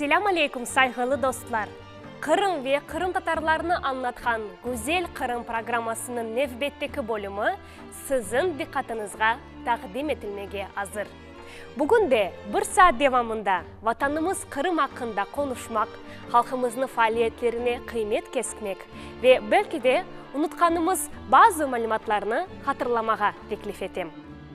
Selâm aleyküm sayğılı dostlar! Qırım ve qırımtatarlarnı añlatqan Güzel Qırım programmasınıñ nevbetteki bölümi siziñ diqqatınızğa taqdim etilmege azır. Bugün de bir saat devamında Vatanımız Qırım aqqında qonuşmaq, halqımıznı faaliyetlerine qıymet kesmek ve belki de unutqanımız bazı malümatlarnı hatırlamağa teklif etem.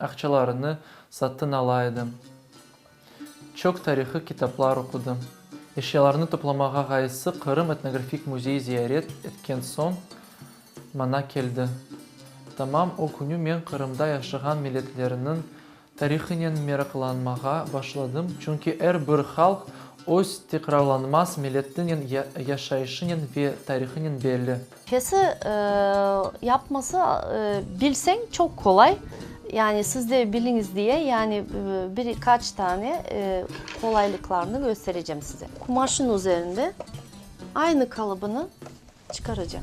Aqçalarını satın ala edim. Çoq tarihiy kitaplar oqudım. Eşyalarını toplamağa ğayısı Qırım etnografik müzeyi ziyaret etken soñ mana keldi. Tamam o künü men Qırımda yaşağan milletlerniñ tarihinen meraqlanmağa başladım, çünki er bir halq öz tekrarlanmaz millettinen, yaşayışınen ve tarihınen belli. Kesi yapması bilseñ çoq qolay, yani siz de biliñiz diye, yani bir kaç tane qolaylıqlarını kösterecem size. Qumaşın üzerinde aynı qalıbını çıqaracam.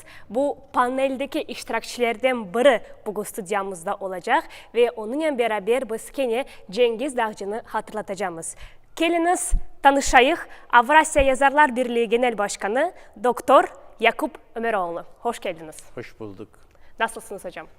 Bu paneldeki iştirakçilerden biri bugün studiyamızda olacaq ve onıña beraber biz kene Cengiz Dağcını hatırlatacamız. Keliñiz, tanışayıq, Avrasiya Yazarlar Birliği Genel Başkanı, doktor Yakup Ömeroğlu. Hoş keldiñiz. Hoş bulduk. Nasılsıñız, ocam?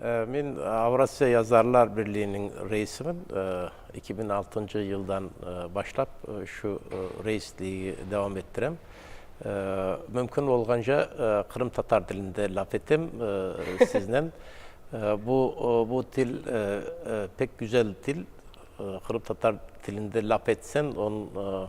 Men Avrasiya Yazarlar Birliğiniñ reisimin. Eki biñ altıncı yıldan başlap şu reisliği devam ettirem. Mümkün olğanca qırımtatar tilinde laf etem siznen. Bu, bu til pek güzel til. Qırımtatar tilinde laf etsen, onıñ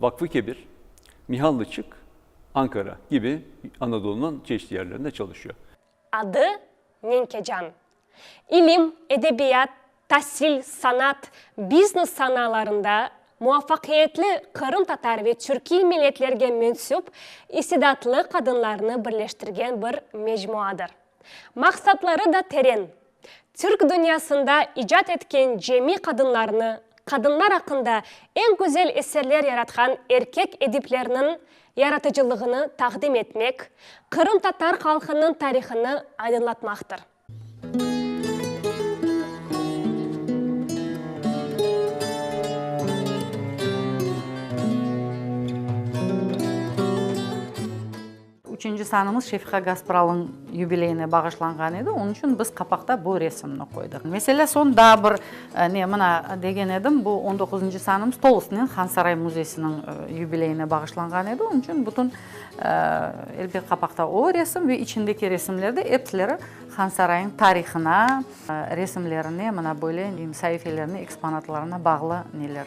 Vakfı Kebir, Mihallıçık, Ankara, kibi Anadolunıñ çeşit yerlerinde çalışıyor. Adı, Menkecan. İlim, edebiyat, tasil, sanat, biznes sanalarında muvafaqiyetli qırımtatar ve türkiy milletlerge mensüp istidatlı qadınlarnı birleştirgen bir mecmuadır. Maqsatları da teren, Türk dünyasında icat etken cemi qadınlarnı, qadınlar aqqında eñ güzel eserler yaratqan erkek ediplerniñ yaratıcılığını taqdim etmek, qırımtatar halqınıñ tarihını aydınlatmaqtır. Üçünci sanımız Şefiqa Gaspralıñ yubileyine bağışlanğan edi, onıñ içün biz qapaqta bu resimni qoydıq. Meselâ, soñ daa bir ne, mına, degen edim, bu on doquzıncı sanımız tolusınen Hansaray müzeysiniñ yubileyine bağışlanğan edi, onıñ içün bütün, elbet, qapaqta o resim ve içindeki resimler de epsleri Hansarayıñ tarihına, resimlerine, mına böyle, sayifelerine, eksponatlarına bağlı neler.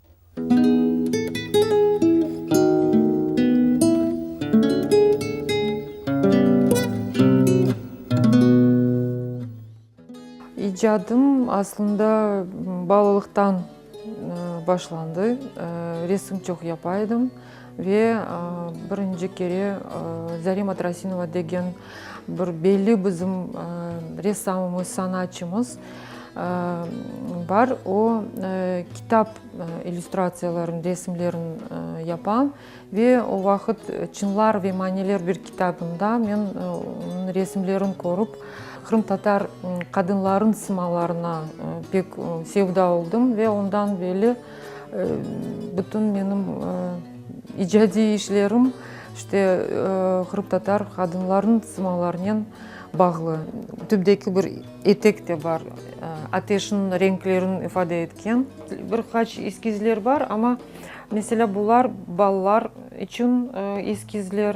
İcadım aslında balalıqtan başlandı. Resim çoq yapa edim. Ve birinci kere Zarema Trasinova degen bir belli bizim ressamımız, sanatçımız bar. O, kitap illüstratsiyalarını, resimlerin yapa. Ve o vaqıt Çınlar ve maniler bir kitabında men onıñ resimlerin körip, qırımtatar qadınlarınıñ simalarına pek sevda oldım ve ondan belli Bütün menim icadiy işlerim işte qırımtatar qadınlarınıñ simalarınen bağlı. Tüpteki bir etek de bar, ateşniñ renklerin ifade etken. Bir qaç eskizler bar, amma, meselâ, bular balalar içün eskizler.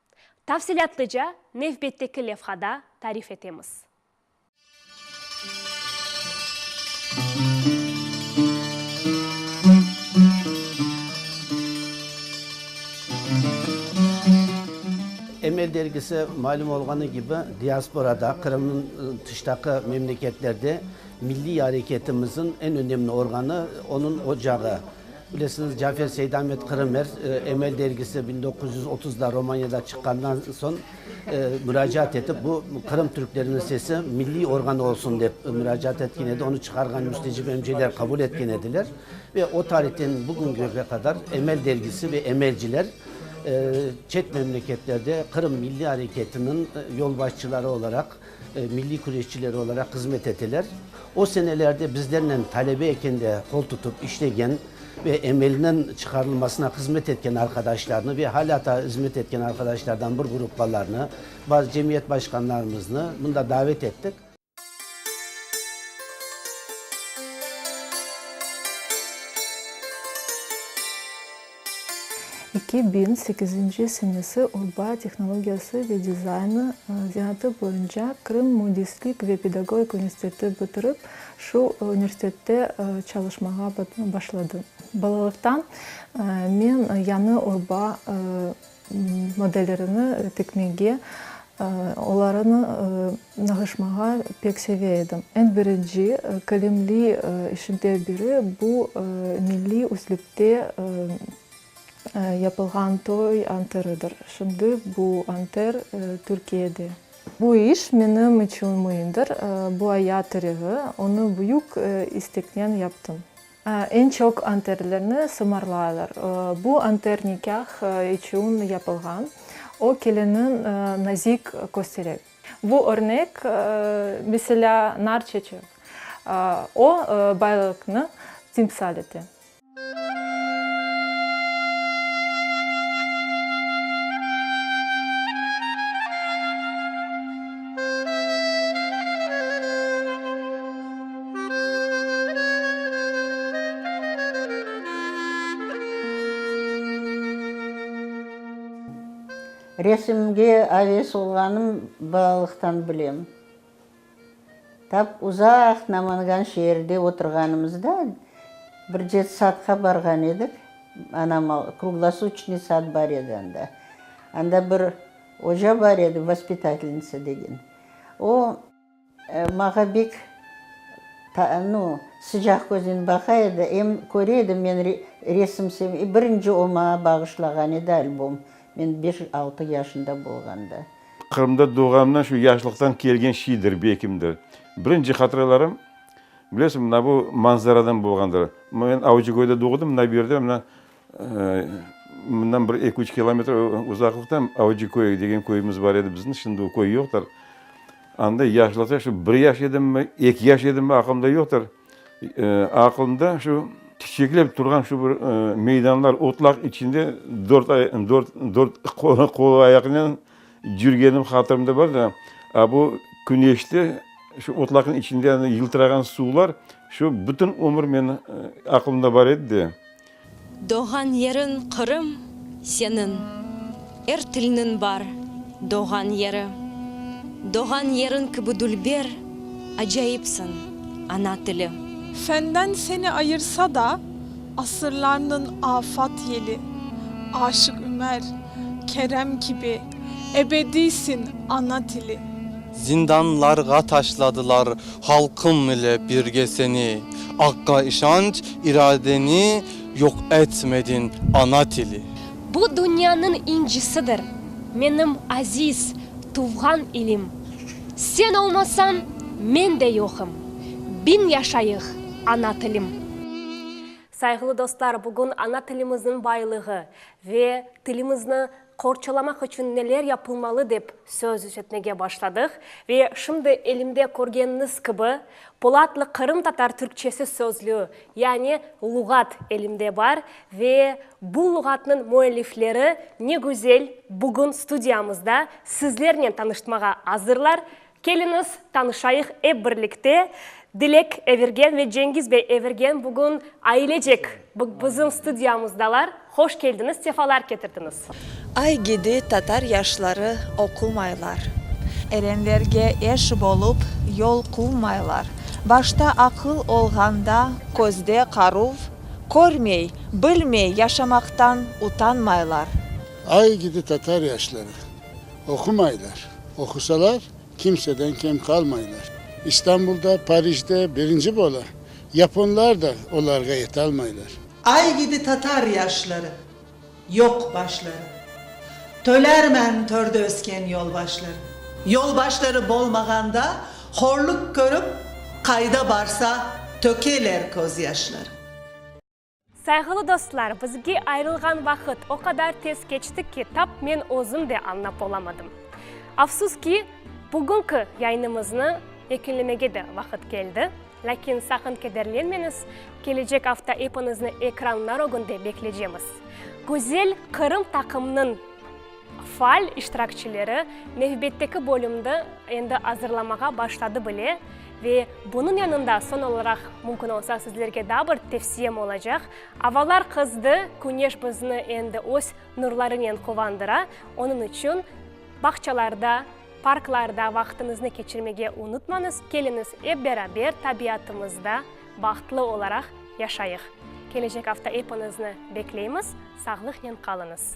Tafsilâtlıca nevbetteki levhada tarif etemiz. Emel dergisi malüm olğanı kibi, diasporada, Qırımnıñ tışdaki memleketlerde milliy areketimizin eñ önemli organı, onıñ ocağı. Bilesiñiz, Cafer Seydamet Qırım er, Emel dergisi biñ doquz yüz otuzda Romaniyada çıqqandan soñ muracaat etip, bu Qırım türkleriniñ sesi milliy organ olsun dep muracaat etken edi, onı çıqarğan müstecip emceler qabul etken ediler. Ve o tarihten bugüngüge qadar Emel dergisi ve emelciler çet memleketlerde Qırım milliy areketiniñ yolbaşçıları olaraq Milliy küreşçiler olaraq hızmet eteler. O senelerde bizlernen talebe ekende qol tutıp işlegen ve emelniñ çıqarılmasına hızmet etken arqadaşlarnı ve halâ taa hızmet etken arqadaşlardan bir gruppalarnı, bazı cemiyet başqanlarımıznı mında davet ettik. Eki biñ sekizinci senesi urba tehnologiyası ve dizaynı zenatı boyunca Krım mündislik ve pedagogik üniversiteti bitirip, şu üniversitette çalışmağa başladım. Balalıqtan men yañı urba. Modellerini tikmege, olarını nağışmağa pek seve edim. Eñ birinci kilimli işimden biri bu milliy üslüpte yapılğan toy anteridir. Şimdi bu anter Türkiyede. Bu iş menim içün müimdir. Bu ayat tirevi, onı büyük isteknen yaptım. Eñ çoq anterlerni sımarlaylar. Bu anter nikâh içün yapılğan, o kelinniñ nazik köstereg. Bu örnek, meselâ, nar çeçek. O, baylıqnı timsal ete. Resimge aves olğanım balalıqtan bilem. Tap uzaq Namangan şeerde oturğanımızda bir cetsatqa barğan edik, anam kruglosuçnıy sad bar edi anda. Anda bir oca bar edi, vaspitatelnıtsa degen. O. Mağa bek sıcaq köznen baqa edi, em köre edim men resim sevmeyi, birinci o mağa bağışlağan edi albom, men beş-altı yaşında bolğanda. Qırımda doğğanımdan şu yaşlıqtan kelgen şiydir, bekimdir. Birinci hatıralarım, bilesiñ, mına bu manzaradan bolğandır. Men Avcıköyde doğdım, mına bu yerde, mına. Bundan bir eki-üç kilometr uzaqlıqta Avcıköy degen köyümüz bar edi bizim. Şimdi o köy yoqtır. Anda yaşlıqta şu bir yaş edimmi, eki yaş edimmi, aqılımda yoqtır. Aqılımda şu çiçeklep turğan şu bir meydanlar, otlaq içinde dört ay, dört, dört qol-ayaqnen cürgenim hatırımda bar da. A bu küneşte şu otlaqnıñ içinde yıltırağan suvlar şu bütün ömür meniñ aqılımda bar edi de. Doğğan yeriñ Qırım seniñ. Er tilniñ bar doğğan yeri. Doğğan yeriñ kibi dülber, acayipsiñ, ana tili. Fenden seni ayırsa da, asırlarnıñ afat yeli. Aşıq Ümer, Kerem kibi. Ebediysin, ana tili! Zindanlarğa taşladılar halqım ile birge seni, Aqqa işanç, iradeni yoq etmedin, ana tili! Bu dünyanıñ incisidir, menim aziz tuvğan ilim, Sen olmasañ, men de yoqım, biñ yaşayıq, ana tilim! Sayğılı dostlar, bugün ana tilimizniñ baylığı ve tilimizni Qorçalamaq içün neler yapılmalı dep söz üzetmege başladıq ve şimdi elimde körgeniñiz kibi Polatlı qırımtatar türkçesi sözlüğü, yani luğat elimde bar ve bu luğatnıñ müellifleri ne güzel bugün studiyamızda sizlernen tanıştmağa azırlar, Keliñiz, tanışayıq ep birlikte, Dilek Evirgen ve Cengiz bey Evirgen bugün ailecek bizim studiyamızdalar. Hoş keldiñiz, sefalar ketirdiñiz. Aygede tatar yaşları oqumaylar. Erenlerge eş bolup yol quvmaylar. Başta aqıl olğanda közde qaruv, Körmey, bilmey yaşamaqtan utanmaylar. Aygede tatar yaşları. Oqumaylar. Oqusalar, kimseden kem qalmaylar. İstanbulda, Parijde birinci bola. Yaponlar da olarğa yetalmaylar. Ay kibi tatar yaşları. Yoq başları. Tölermen törde ösken yolbaşları. Yolbaşları bolmağanda horluk körip, qayda barsa tökeler közyaşları. Sayğılı dostlar, bizge ayırılğan vaqıt o qadar tez keçti ki, tap men özüm de añlap olamadım. Afsus ki, bugünki yayınımıznı yekünlemege de vaqıt keldi. Lâkin saqın kederlenmeñiz, kelecek afta epiñizni ekranlar ögünde beklecemiz. Güzel Qırım taqımnıñ! Faal iştirakçileri nevbetteki bölümni endi azırlamağa başladı bile. Ve bunıñ yanında soñ olaraq, mümkün olsa, sizlerge daa bir tevsiyem olacaq. Avalar qızdı, küneş bizni endi öz nurlarınen quvandıra. Onıñ içün bağçalarda, parklarda vaqtıñıznı keçirmege unutmañız, keliñiz, ep beraber tabiatımızda bahtlı olaraq yaşayıq. Kelecek afta epiñizni bekleymiz, sağlıqnen qalıñız!